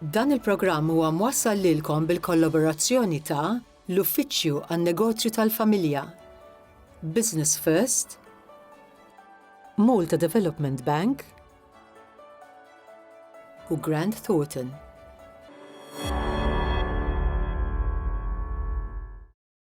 Dan il-programm huwa mwassal lilkom bil-kollaborazzjoni ta' l-Uffiċċju għan-Negozju tal-Familja, Business First, Malta Development Bank u Grant Thornton.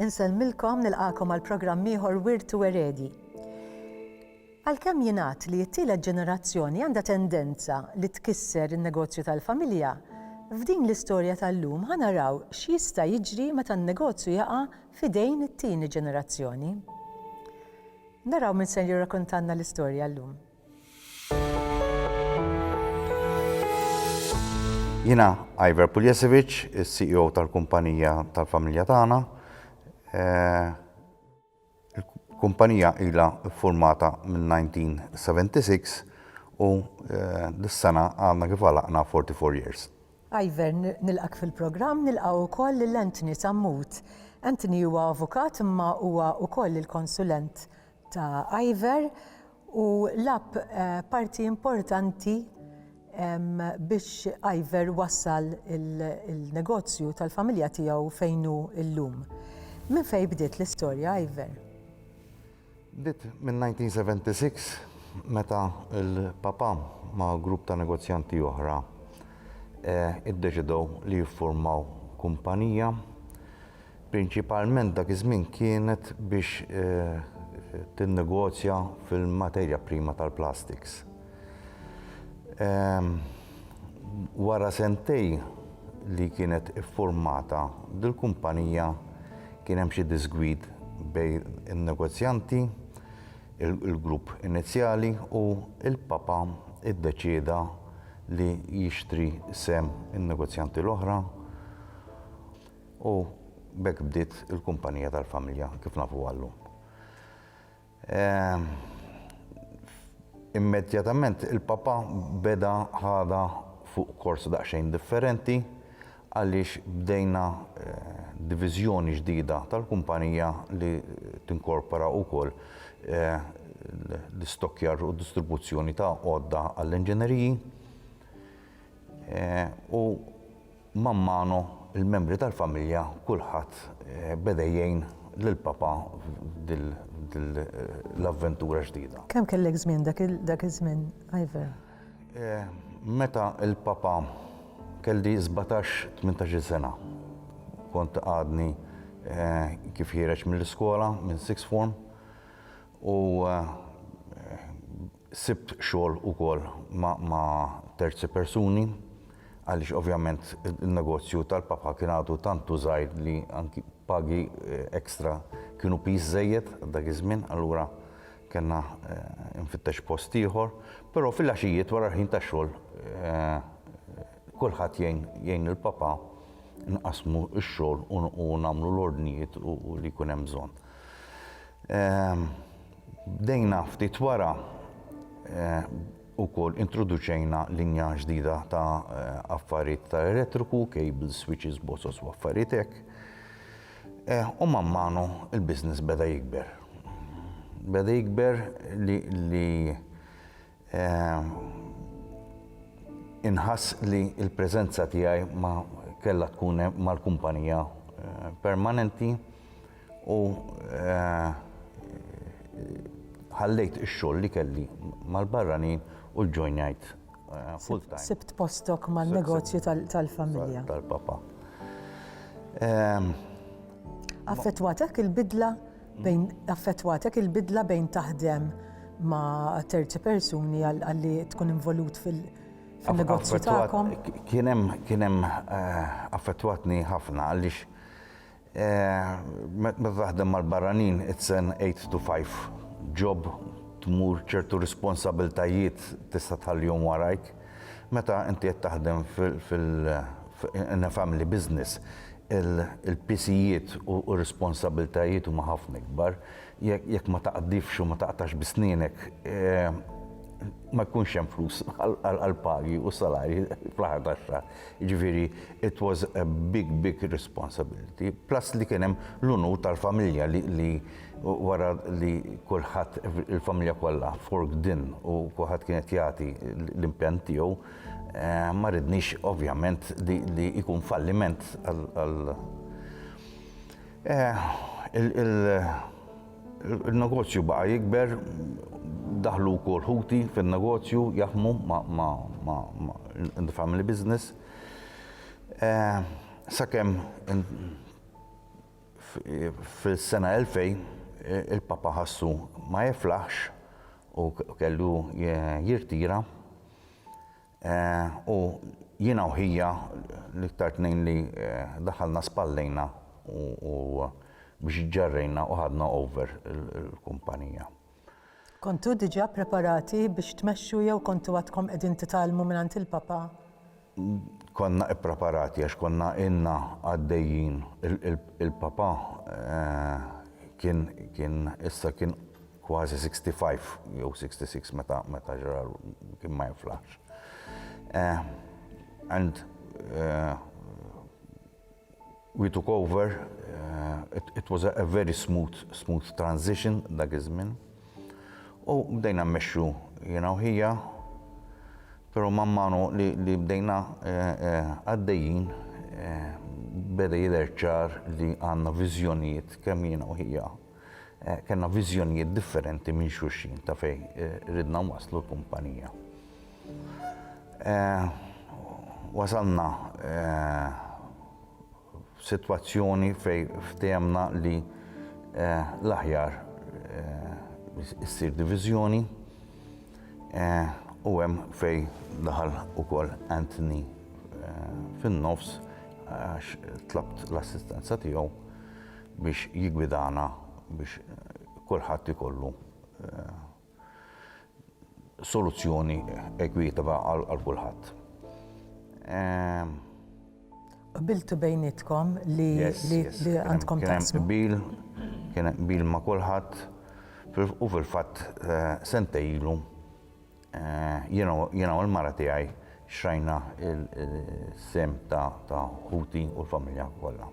Insellmilkom nilqakom għal programm ieħor Wirt u Eredi. Għalkemm jingħad li t-tielet ġenerazzjoni għandha tendenza li tkisser in-negozju tal-familja, f'din l-istorja tal-lum ħanaraw x'jista' jiġri meta n-negozju jaqa' f'idejn it-tieni ġenerazzjoni. Naraw min ser jirrakontalna l-istorja llum. Jiena Iver Puljesevic, is-CEO tal-kumpanija tal-familja tagħna. Il-kumpanija ilha ffurmata mill-1976 u dis-sena għadna kif għalaqna 44 years. Ivan, nilqgħek fil-programm, nilqgħu wkoll lil Anthony Sammut. Anthony huwa avukat imma huwa wkoll il-konsulent ta' Ivan u lab eh, parti importanti biex Iver wassal il-negozju tal-familja tiegħu fejn hu llum. Minn fejn bdiet l-istorja Iver? Bdiet min-1976 meta l-Papa ma' grupp ta' negozjanti oħra iddeċidew li jiffurmaw kumpanija. Prinċipalment dak iż-żmien kienet biex tinnegozja fil-materja prima tal-plastiks. Wara sentejn li kienet iffurmata dil-kumpanija kien hemm xi diżgwid bejn in-negozjanti, il-grupp inizjali u l-Papa ddeċieda li jixtri sehem in-negozjanti l-oħra u b'hekk bdiet il-kumpanija tal-familja kif nafuha llum. Ehm, immedjatament il-papa beda ħada fuq kors daqsxejn differenti għaliex bdejna eh, diviżjoni ġdida tal-kumpanija li tinkorpora wkoll eh, l-istokjar u distribuzzjoni ta' għodda għall-inġeneriji. U man manu l-membri tal-familja kulħadd beda jgħin lil Papa f'din l-avventura ġdida. Kemm kellek żmien dak iż-żmien, Ivor? Meta l-Papa kelli sbatax, tmintax-il sena. Kont għadni kif ħiereġ mill-iskola, minn sixth form, u Sibt xogħol ukoll ma' terzi persuni għaliex ovvjament in-negozju tal-papà kien għadu tant u żgħir li anki pagi extra kienu piż żejjed għal dak iż-żmien allura kellna infittex post ieħor. Però fil-għaxijiet wara l-ħin tax-xogħol kulħadd jgħin jgħin lill-papà nqassmu x-xogħol u nagħmlu l-ordnijiet u li jkun hemm bżonn. Bdejna ftit wara wkoll introduċejna linja ġdida ta' affarijiet ta' elettriku, cables, switches, boxes u affarijiet hekk. U man manu l-business beda jikber. Beda jikber li Inħass li l-preżenza tiegħi ma kellha tkun mal-kumpanija permanenti u ħallejt ix-xogħol li kelli mal-barranin u ġġojnajt full-time. Sibt postok man-negozju tal-familja. Tal-papa. Affettwatek il-bidla? Bejn affettwatek il-bidla bejn taħdem ma' terzi persuni għalli tkun involut fil-negozju tagħkom? Kien hemm eh, affettwatni ħafna għaliex eh, meta taħdem mal-barranin it's an 8 to 5 job tmur ċertu responsabiltajiet tista' tħallihom warajk. Meta inti qed taħdem in a family business il-pisijiet u r-responsabbiltajiet huma ħafna ikbar. Jekk ma taqdifx u ma taqtax bi snienek ma jkunx hemm flus għall-pagi u s-salarji fl-aħħar tax-xahar. Jiġifieri it was a big, big responsibility. Plus li kien hemm l-unur tal-familja li Wara li kulħadd, il-familja kollha, fork din u kulħadd kien qed jagħti l-impenn tiegħu, ma ridniex ovvjament li jkun falliment għal il-negozju baqa' jikber, daħlu wkoll ħuti fin-negozju jaħdmu ma' in the family business. Sakemm Fis-sena 2000, il-Papa ħassu ma jiflaħx u kellu jirtira. U jiena u ħija l-iktar tnejn li daħalna spallejna u biex iġġarrejna u ħadna over il-kumpanija. Kontu diġà ppreparati biex tmexxu jew kontu għadkom qegħdin titgħallmu mingħand il-Papa? Konna ippreparati għax konna ilna għaddejjin, il-Papa kien kien issa kien kważi sixty five jew sixty six meta meta ġra kien ma jinflaħx. And We took over, it was a very smooth, smooth transition dak iż-żmien. U bdejna mmexxu jiena u ħija, però man manu li, li bdejna eh, eh, għaddejjin eh, beda jidher ċar li għandna viżjonijiet kemm jiena u ħija Kellna viżjonijiet differenti minn xulxin ta' fejn ridna nwasslu l-kumpanija. Wasalna f'sitwazzjoni fejn ftehemna li l-aħjar issir diviżjoni u hemm fejn daħal ukoll Anthony fin-nofs għax tlabt l-assistenza tiegħu. biex jiggwidana biex kulħadd ikollu soluzzjoni ekwitwa għal kulħadd. Qbiltu bejnietkom li għandkom taqsmu? Qbil, kien hemm qbil ma' kulħadd u fil-fatt sentejn ilu Jiena u l-mara tiegħi xtrajna s-sehem ta' ħuti u l-familja kollha.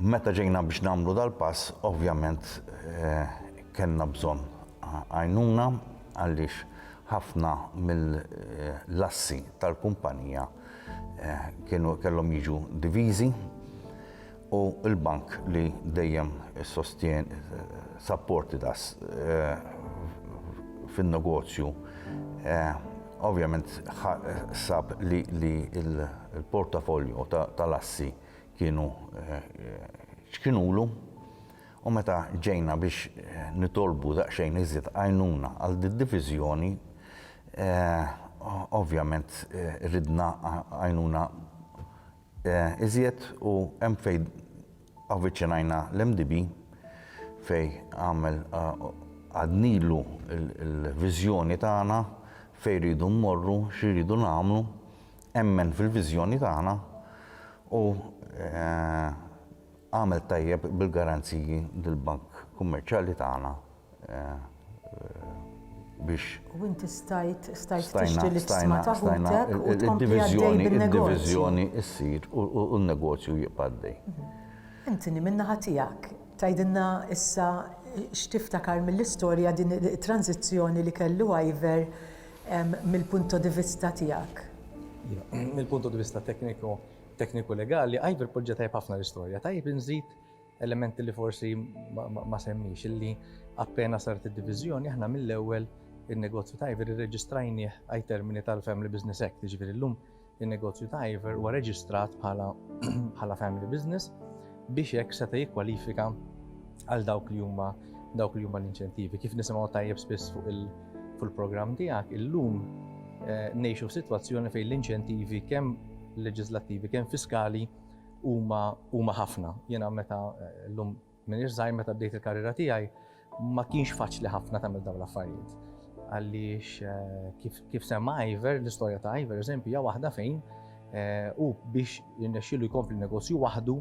Meta ġejna biex nagħmlu dal-pass, ovvjament kellna bżonn għajnuna għaliex ħafna mill-assi tal-kumpanija kellhom jiġu diviżi. u l-Bank li dejjem sostien sapporti ta' fin-negozju ovvjament sab li l-portafolio tal-assi kienu ċkinulu u meta ġejna biex nitolbu daqsxejn iżjed għajnuna għal did-diviżjoni ovvjament ridna għajnuna Iżjed u hemm fejn avviċinajna l-MDB fejn għamel għadnilu l-viżjoni tagħna fejn rridu mmorru, xi rridu nagħmlu, emmen fil-viżjoni tagħna u għamel tajjeb bil-garanziji li l-Bank Kummerċjali tagħna biex. U inti stajt stajt tixtri l-isma ta' ħutek u tkompli għaddej bin-negozju. Id-diviżjoni ssir u n-negozju jibqa' għaddej. Anthony, min-naħa tiegħek, tgħidilna issa x'tiftakar mill-istorja din it-tranżizzjoni li kellu Ivor mill-punto di vista tiegħek? Mill-punto di vista tekniku tekniku legali, Ivor poġġa tajjeb ħafna l-istorja. Tajjeb inżid Element li forsi ma semmiex illi appena saret id-diviżjoni aħna mill-ewwel in-negozju ta' Iver irreġistrajnieh ai termini tal-Family Business Act, jiġifieri llum in-negozju ta' Iver huwa reġistrat bħala family business biex hekk seta' jikkwalifika għal dawk li huma dawk li huma l-inċentivi. Kif nisimgħu tajjeb spiss fuq il-programm tiegħek, illum eh, ngħixu f'sitwazzjoni fejn l-inċentivi kemm leġislattivi kemm fiskali Huma huma ħafna. Jiena meta llum m'iniex żgħir meta bdejt il-karriera tiegħi ma kienx faċli ħafna tagħmel dawn l-affarijiet. Għaliex kif kif semma Iver, l-istorja ta' Iver eżempju hija waħda fejn u biex jirnexxielu jkompli negozju waħdu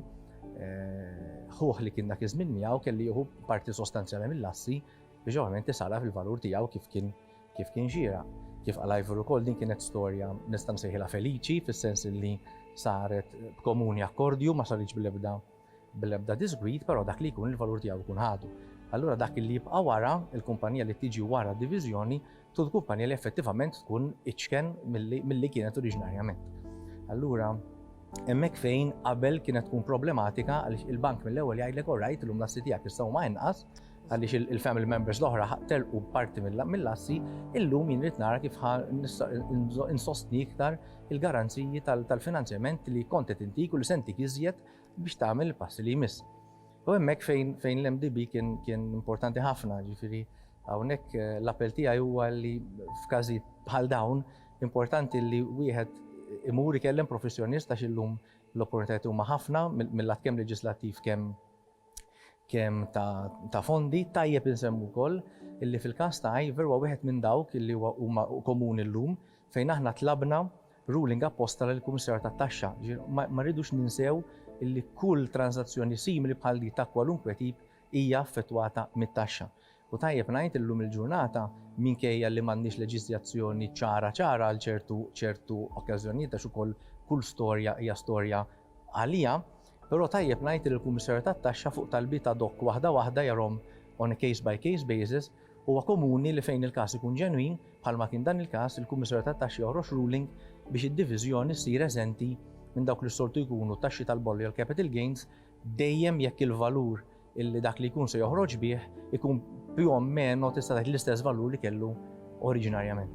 ħuħ li kien dak iż-żmien miegħu kelli jieħu parti sostanzjali mill-assi biex ovvjament isara fil-valur tiegħu kif kien kif kien xieraq. Kif qal Ivor ukoll din kienet storja nista' nsejħilha feliċi fis-sens li saret b'komuni akkordju ma saritx bl-ebda bl-ebda disgwid, però dak li jkun il-valur tiegħu jkun ħadu. Allura dak li jibqa' wara, il-kumpanija li tiġi wara d-diviżjoni, tkun kumpanija li effettivament tkun iċken milli kienet oriġinarjament. Allura hemmhekk fejn qabel kienet tkun problematika għaliex il-bank mill-ewwel jgħidlek orajt illum l-assi tiegħek issa huma inqas, għaliex il-family members l-oħra telqu parti mill-assi, illum jien rrid nara kif insostni iktar il-garanziji tal-finanzjament li kont qed intik u li sentik iżjed biex tagħmel il-passi li jmiss. U hemmhekk fejn l-MDB kien importanti ħafna, ġifieri hawnhekk eh, l-appell tiegħi huwa li f'każijiet bħal dawn importanti li wieħed imur ikellem professjonist għax illum l-opportunitajiet huma ħafna mill-lat kemm leġislattiv kemm kemm ta' fondi. Tajjeb insemmu wkoll illi fil-każ ta' Ivor huwa wieħed minn dawk illi huwa huma komuni llum fejn aħna tlabna ruling apposta lill-Kummissarju tat-Taxxa. Jiġifieri ma rridux ninsew illi kull tranżazzjoni simili bħal din ta' kwalunkwe tip hija affettwata mit-taxxa. U tajjeb ngħid illum il-ġurnata, minkejja li m'għandniex leġiżjazzjoni ċara ċara għal ċertu ċertu okkażjonijiet għax ukoll kull storja hija storja għaliha, però tajjeb ngħid li l-Kummissarju tat-Taxxa fuq talbiet ad hoc waħda waħda jarahom on a case by case basis, huwa komuni li fejn il-każ ikun ġenwin, bħalma kien dan il-każ, il-Kummissarju tat-Taxxa joħroġ ruling biex id-diviżjoni ssir eżenti minn dawk li s-soltu jkunu t-taxxi tal-bollo jew l-capital gains dejjem jekk il-valur illi dak li jkun se joħroġ bih ikun più o meno tista' tgħid l-istess valur li kellu oriġinarjament.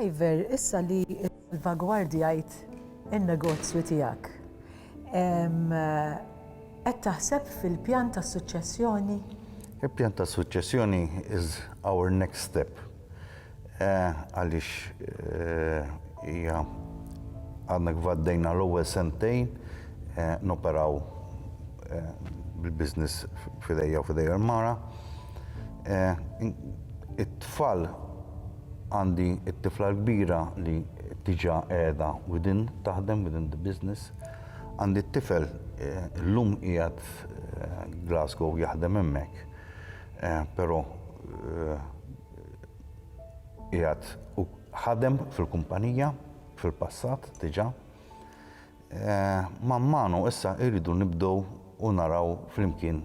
Iver, issa li salvagwardjajt in-negozju tiegħek, qed taħseb fil-pjan ta' suċċessjoni? Il-pjan ta' suċċessjoni is our next step. Għaliex hija għadna kif għaddejna l-ewwel sentejn noperaw bil-business f'idejja u f'idejha l-mara. It-tfal għandi t-tifla l-kbira li diġà qiegħda within taħdem, within the business. Għandi t-tifel illum qiegħed Glasgow jaħdem hemmhekk, però qiegħed u ħadem fil-kumpanija fil-passat diġà. Man manu issa irridu nibdew u naraw flimkien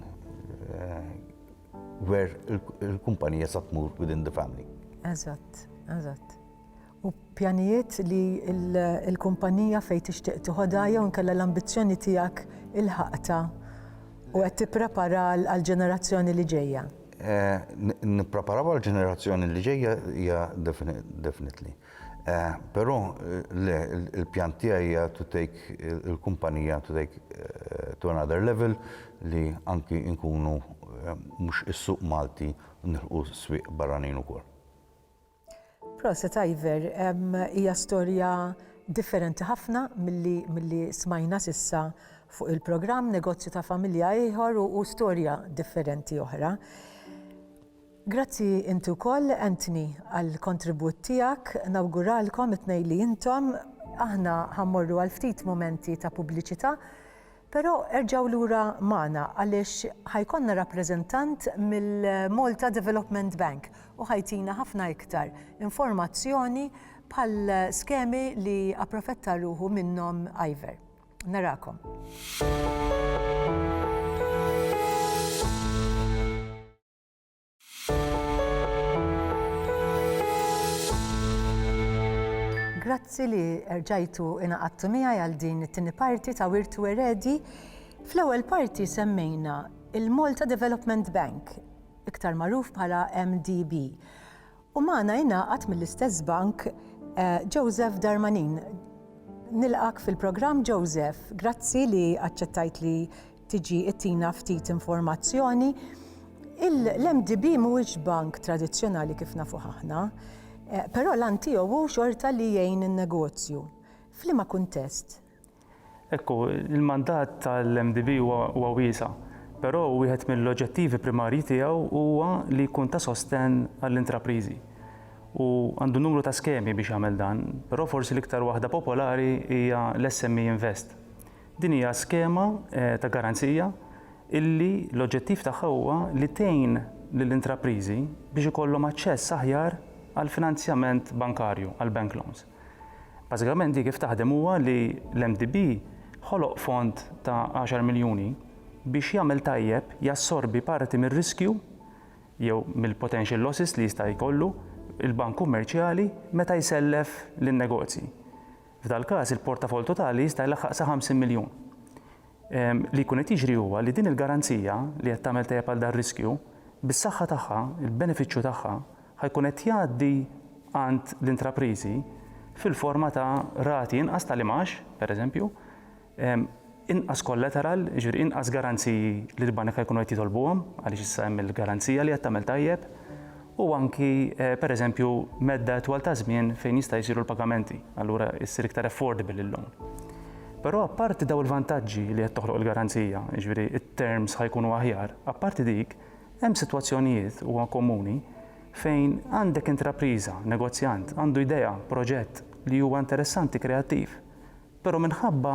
where il-kumpanija sa tmur within the family. Eżatt, eżatt. u pjanijiet li l-kumpanija fejn tixtieq tiħodha jew inkella l-ambizzjoni tiegħek ilħaqtha u qed tipprepara għall-ġenerazzjoni li ġejja? Nippreparaw għall-ġenerazzjoni li ġejja hija definitely. Però le, il-pjan tiegħi hija to take il-kumpanija to take to another level li anki nkunu mhux is-suq Malti nilħqu s-swieq barranin ukoll. Proset Ivor, hija storja differenti ħafna milli milli smajna s'issa fuq il-programm, negozju ta' familja ieħor u u storja differenti oħra. Grazzi inti wkoll Anthony għall-kontribut tiegħek, nawguralkom it-tnejn li intom, aħna ħa mmorru għal ftit mumenti ta' pubbliċità, Però erġgħu lura magħna għaliex ħa jkollna rappreżentant mill-Malta Development Bank u ħa jtina ħafna iktar informazzjoni bħal skemi li approfetta ruħu minnhom Iver. Narakom. Grazzi li erġajtu inaqattu miegħi għal din it-tieni parti ta' Wirtu Eredi. Fl-ewwel parti semmejna il-Malta Development Bank, iktar magħruf bħala MDB. U magħna jingħaqad mill-istess bank eh, Joseph Darmanin. Nilqak fil-programm Joseph, grazzi li aċċettajt li tiġi ittina ftit informazzjoni. L-MDB mhuwiex bank tradizzjonali kif nafu ħahna, eh, però l-an tiegħu hu xorta li jgħin in-negozju. F'liema kuntest? Ekku, il-mandat tal-MDB huwa wiesa, però wieħed mill-oġġettivi primarji tiegħu huwa li jkun ta' sostenn għall-intrapriżi. U għandu numru ta' skemi biex jagħmel dan, però forsi l-iktar waħda popolari hija l-SME Invest. Din hija skema ta' garanzija illi l-oġġettiv tagħha huwa li tgħin lill-intrapriżi biex ikollhom aċċess aħjar għall-finanzjament bankarju, għall-bank loans. Bażikament di kif taħdem huwa li l-MDB ħoloq fond ta' għaxar miljuni biex jagħmel tajjeb, jassorbi parti mir-riskju jew mill-potential losses li jista' jkollu l-bank kummerċjali meta jsellef lin-negozji. F'dal-każ il-portafoll totali jista' jlaħħaq sa 50 miljun. Li jkun qed jiġri huwa li din il-garanzija li qed tagħmel tajjeb għal dar-riskju, bis-saħħa tagħha, il-benefiċċju tagħha, ħa jkun qed jgħaddi għand l-intrapriżi fil-forma ta' rati inqas tal-imgħax, pereżempju, Inqas kollateral, jiġifieri inqas garanziji li l-banek ħa jkunu qed jitolbuhom għaliex issa hemm il-garanzija li qed tagħmel tajjeb u anki pereżempju medda itwal ta' żmien fejn jista' jsiru l-pagamenti, allura issir iktar affordable il-loan. Però apparti daw il-vantaġġi li qed toħloq il-garanzija, jiġifieri t-terms ħa jkunu aħjar, apparti dik, hemm sitwazzjonijiet, huwa komuni, fejn għandek intrapriża, negozjant, għandu idea, proġett li huwa interessanti, kreattiv, Però minħabba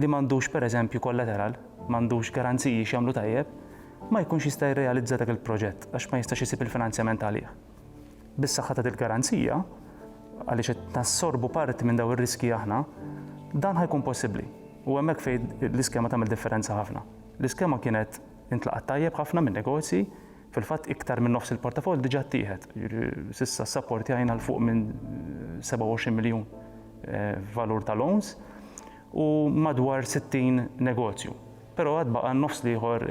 li m'għandux pereżempju kollateral, m'għandux garanziji x'jagħmlu tajjeb, ma jkunx jista' jirrealizza dak il-proġett għax ma jistax isib il-finanzjament għalih. Bis-saħħa ta' dil-garanzija, għaliex qed nassorbu parti minn dawn ir-riskji aħna, dan ħa jkun possibbli. U hemmhekk fejn l-iskema tagħmel differenza ħafna. L-iskema kienet intlaqgħet tajjeb ħafna min-negozji, Fil-fatt iktar minn nofs il-portafoll diġà ttieħed. S'issa ssappportjajna 'l fuq minn 27 miljun f'valur ta' loans u madwar 60 negozju. Però għad baqa' n-nofs l-ieħor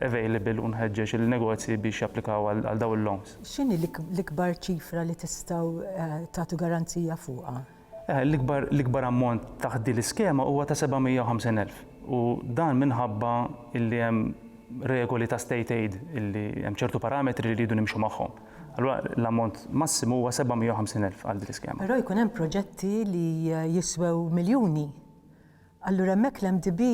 available u nħeġġeġ il-negozji biex japplikaw għal dawn il-loans. X'inhi l-ikbar ċifra li tistgħu tagħtu garanzija fuqha? L-ikbar ammont taħt din l-iskema huwa ta' 750 elf u dan minħabba li hemm regoli ta' state aid li hemm ċertu parametri li rridu nimxu magħhom. Allura l-ammont massimu huwa 750 elf għal din l-iskema. Però jkun hemm proġetti li jiswew miljuni Allura hemmhekk l-MDB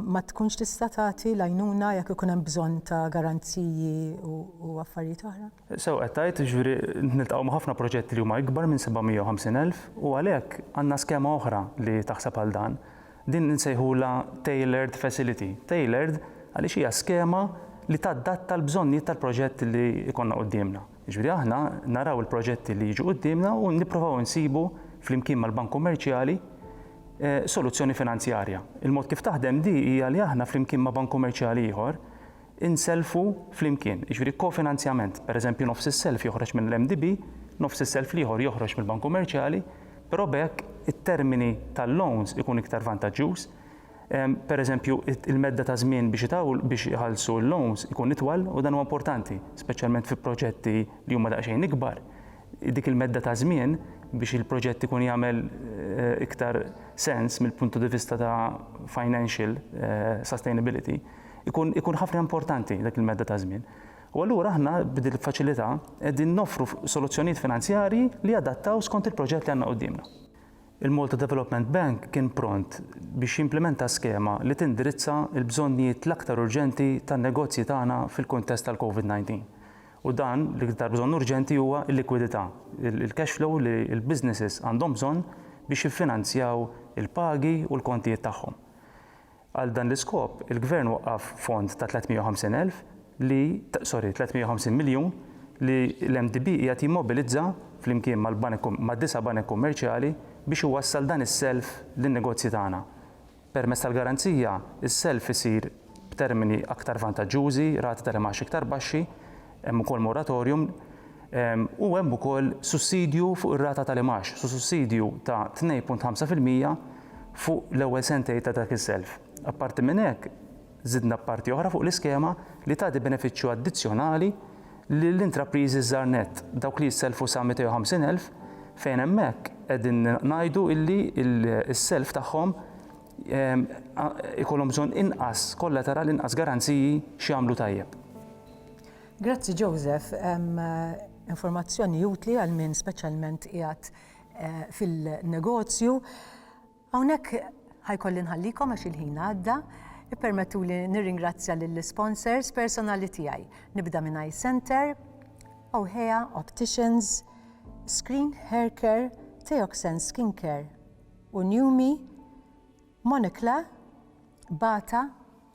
ma tkunx tista' tagħti l-għajnuna jekk ikun hemm bżonn ta' garanziji u affarijiet oħra? Sew qed tgħid, jiġifieri niltaqgħu ma' ħafna proġetti li huma ikbar minn 750,000 u għalhekk għandna skema oħra li taħseb għal dan. Din insejħulha tailored facility. Tailored għaliex hija skema li tadatta l-bżonnijiet tal-proġett li jkollna quddiemna. Jiġifieri aħna naraw il-proġetti li jiġu quddiemna u nipprovaw insibu flimkien mal-Bank Kummerċjali soluzzjoni finanzjarja. Il-mod kif taħdem di hija li aħna flimkien ma' Bank Kummerċjali ieħor inselfu flimkien, jiġifieri kofinanzjament. Pereżempju nofs is-self joħroġ mill-MDB, nofs is-self l-ieħor joħroġ mill-Bank Kummerċjali, però b'hekk it-termini tal-loans ikun iktar vantaġġjuż, Pereżempju, il-medda ta' żmien biex iħallsu l-loans ikun itwal u dan huwa importanti, speċjalment fi proġetti li huma daqsxejn ikbar. Dik il-medda ta' żmien biex il-proġett ikun jagħmel iktar sens mill-puntu di vista ta' financial sustainability ikun ikun ħafna importanti dik il-medda ta' żmien. U allura aħna b'din il-faċilità qegħdin noffru soluzzjonijiet finanzjarji li jadattaw skont il-proġett li għandna quddiemna. Il-Malta Development Bank kien pront biex jimplimenta skema li tindirizza l-bżonnijiet l-aktar urġenti tan-negozji tagħna fil-kuntest tal-Covid 19. U dan, l-iktar bżonn urġenti huwa l-likwidità, il-cash flow li l-businesses għandhom bżonn biex jiffinanzjaw il-pagi u l-kontijiet tagħhom. Għal dan l-iskop, il-Gvern waqqaf fond ta' 350 elf li, sorry, 350 miljun li l-MDB qiegħed jimmobilizza flimkien mal-banek, mad-disa' banek kummerċjali biex iwassal dan is-self lin-negozji tagħna. Permezz tal-garanzija, is-self isir b'termini aktar vantaġġużi, rati tal-imgħax iktar baxxi, Hemm ukoll moratorium u hemm ukoll sussidju fuq ir-rata tal-imgħax, so sussidju ta' 2.5 fil-mija fuq l-ewwel sentejn ta' dak is-self. Apparti minn hekk, żidna parti oħra fuq l-iskema li tagħti benefiċċju addizzjonali lill-intrapriżi żgħar nett, dawk li jissellfu sa 250,000, fejn hemmhekk qegħdin ngħidu illi s-self tagħhom ikollhom bżonn inqas kollateral, inqas garanziji x'jagħmlu tajjeb. Grazzi Joseph, informazzjoni utli għal min speċjalment qiegħed eh, fil-negozju. Hawnhekk ħajkolli nħallikom għax il-ħin għadda, ippermettu li nirringrazzja lill-sponsors personali tiegħi. Nibda minn Eye Center, Ohea Opticians, Screen Hair Care, Teoxen Skin Care, Unjumi, Monikla, Bata,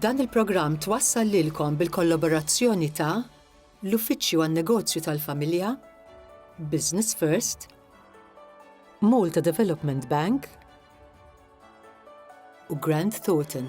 Dan il-programm twassal lilkom bil-kollaborazzjoni ta' l-Uffiċċju għan-Negozju tal-Familja, Business First, Malta Development Bank u Grant Thornton.